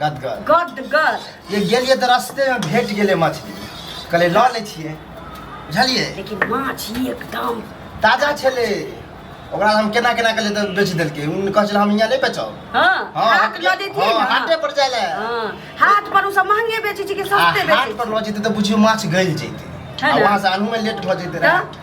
गदगद गदगद ये गेलिए तऽ रस्ते में भेट गेले मछली कहले लऽ ले छिए बुझलिए लेकिन माछ ई एकदम ताजा छले ओकरा हम केना केना के ले बेच देलके उन कह छल हम यहाँ नहीं बेचो हां हाट लऽ देतिए हां हाटे पर जाय ले हां हाट पर उ सब महंगे बेचे छी कि सस्ते बेचे हाट पर लऽ जेते तऽ बुझियो माछ गल जेते वहां से आनू में लेट भ जेते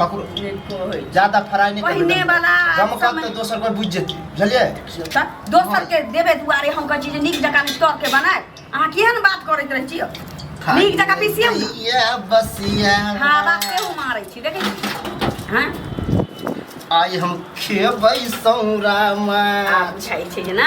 ककरो ज्यादा फ्राई नहीं पहिने करबे वाला गम कम समय- तो दोसर पर बुझ जेते बुझलिए त दोसर के देबे दुआरे हम कहै छी जे नीक जकाँ स्टॉक के बनाए अहाँ किया ने बात करैत रहै छियै नीक जकाँ पीसियौ ने ये बस ये हवा केहू मारै छी देखै छी हँ आई हम खेबै सौरामा आ बुझाइ छै जे ना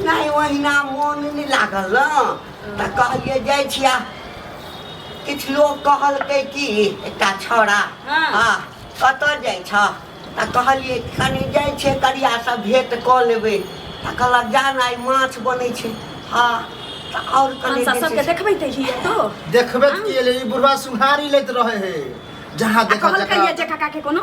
नहि ओहिना मोन नहि लागल ने तऽ कहलियै जाइ छी आ किछु लोक कहलकै कि एकटा छौड़ा हँ। आ कतऽ जाइ छ तऽ कहलियै कनि जाइ छै करियासँ भेँट कऽ लेबै तऽ कहलक जान आइ माछ बनै छै हँ तऽ आओर कनि हमसा जे सबके छै से- देखबै तऽ हिये तो देखबे के लिए ई बुढ़वा सुहारी लैत रहे है जहाँ आ देखा कहलकै ये जे काका के कोनो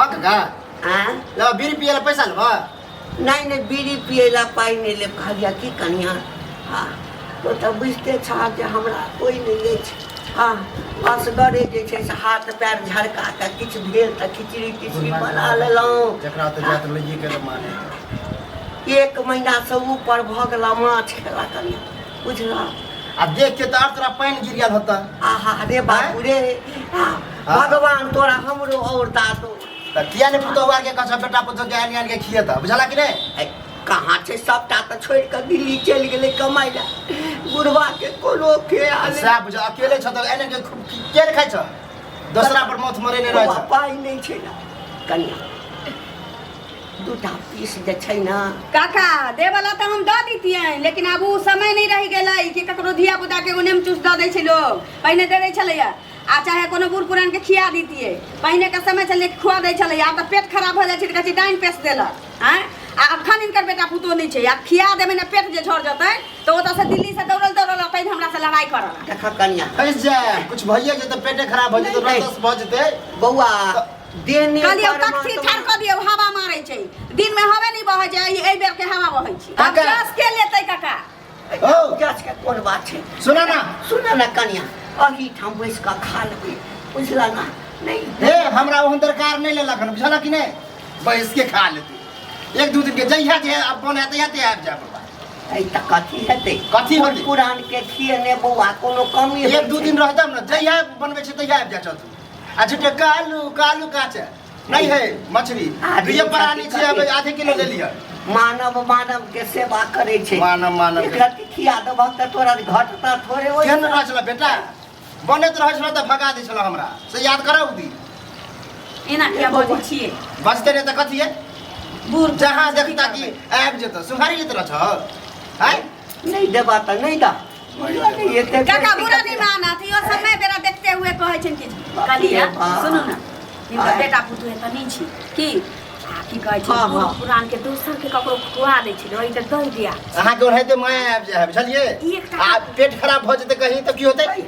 हक का आ ला बीड़ी पिए ला पैसा लेबा नहीं नहीं बीड़ी पियला पाई नहीं ले कहलिया की कनिया हाँ तो तो बुझते छह जे हमरा कोई नहीं ले छै हाँ असगरे जे छै से हाथ पैर झड़का के किछु भेल तऽ खिचड़ी तिचड़ी बना लेलहुँ जकरा तऽ जात लइए के माने एक महीना से ऊपर भऽ गेला माछ खेला कनिया बुझलहुँ आब देख के तऽ आर तोरा पानि गिर गेल होता आहा रे बाबू रे आ भगवान तोरा हमरो और दादो तऽ किया ने पुतौआ के कसम बेटा पुतौ के आनि आनि के खियेता बुझला कि नहीं ऐ, कहाँ छै सबटा तऽ छोड़ि कऽ दिल्ली चलि गेलै कमाइ ला बुढ़वा के कोनो ख्याल नहीं। साहब बुझा अकेले छ तऽ एने के खूब की- के ने खाइ छ दोसरा पर मौत मरे ने रहै बौआ, छ पाइ नहि छै ने कनिया दूटा पीस जे छै ने काका देवला तऽ हम दऽ दितियनि लेकिन आब ओ समय नहि रहि गेलै कि ककरो धिया पुता के ओने मे चूस दऽ दै छै लोग पहिने दे दै छलैया आ चाहे कोनो बूढ़ पुरान के खिया दीतिए पहिने के समय चलिए खुआ दै छलै आब तऽ पेट खराब भऽ जाइ छै तऽ कहै छै डाइन पेस देलक आँय आ अखन इनकर बेटा पुतोह नहि छै आ खिया देबै ने पेट जे झड़ जेतै तऽ ओतऽसँ दिल्लीसँ दौड़ल दौड़ल अतै जे हमरासँ लड़ाइ करऽ देख कनिया फैस जाए कुछ भइए जेतै पेटे खराब भऽ जेतै नहीं, रस भऽ जेतै बौआ देह ने कहलियै पर तखसी मात्र- ठाढ़ कऽ दियौ हवा मारै छै दिनमे हवे नहि बहै छै एहि बेर के हवा बहै छै आब काका। जस के लेतै काका ओ गाछ के कोन बात छै सुना ना सुन न कनिया अही ठाम बैस कऽ खा लेबै बुझला ना नहीं हे हमरा ओहन दरकार नहीं ले लखन बुझल कि नहीं बैस के खा ले तू एक दू दिन के जहिया जे अब बने तहिया ते आबि जा बाबा ऐ तऽ कथी हेतै कथी कोन हेतै? पुरान के छियै ने बौआ कोनो कमी एक दू दिन रहतम ना जहिया बनबै छै तहिया आबि जा चल तू आ झूठे कालू कालू काचे नहीं है मछली आदमी दुइये प्राणी खातिर छियै कथी? आधे किलो ले लिअ मानव मानव के सेवा करे छै मानव मानव के। एकरा के खिया देबह तऽ तोरा घटता थोड़े ओइ केहन रहै छलै बेटा बनैत रहै छलै तऽ भगा दै छलै हमरा से याद करब भी एना किया बजै छियै बचते रहै तऽ कथी है बूढ़ जहाँ देखता कि आबि जेतौ सुखारी लैत रहै छौ आँय नहीं देबा त नहीं दा मरियो के एते काका बुरा नहीं माना थी और समय बेरा देखते हुए कहै छन कि कालिया सुनो ना इनका बेटा पुतु है त नहीं छी की आ, की कहै छै हाँ, बूढ़ हाँ। पुरान के दोसर के ककरो खुआ दै छै ओइ त दई दिया अहाँ के ओढ़ाइते माया आबि जाए बुझलिए एकटा- आ पेट खराब भऽ जेतै कहीं तऽ की होतै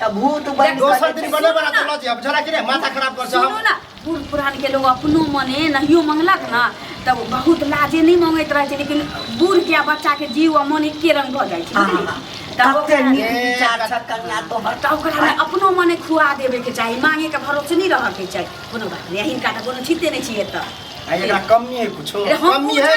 तब भूत बन दोसर दिन बने बना तो लज अब जरा कि रे माथा खराब कर सुनो ना बूढ़ पुरान के लोग अपनो मने नहियो मंगलक ना तब बहुत लाजे नहीं मंगैत रहे लेकिन बूढ़ के बच्चा के जीव आ मन एके रंग भ जाय छै तब ओकरा विचार कन्या तो हर तब ओकरा में अपनो मने खुआ देबे के चाही मांगे के भरोसे नहीं रह के चाही कोनो बात नहीं हिनका कोनो छिते नहीं छिए त एकरा कमी है कुछो कमी है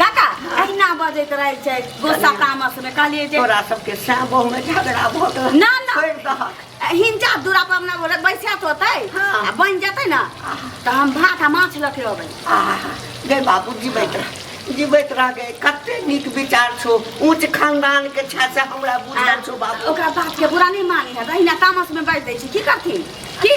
काका अहिना बजैत रहै छै गोस्सा तामस में कहलिए जे तोरा सबके सएह बहु में झगड़ा भऽ गेल ना ना छोड़ि दहक हिनका दूरा पर अपना बोले बैसत होते हाँ। आ बन जेते ना तो हम भात आ माछ लके अबै आहा, गै बाबू जीवैत रह जीवैत रह गए कते नीक विचार छो ऊंच खानदान के छै से हमरा बुझल छो बाबू ओकरा बात के बुरा नहीं मानी है अहिना तामस में बैठ दै छी की करथिन की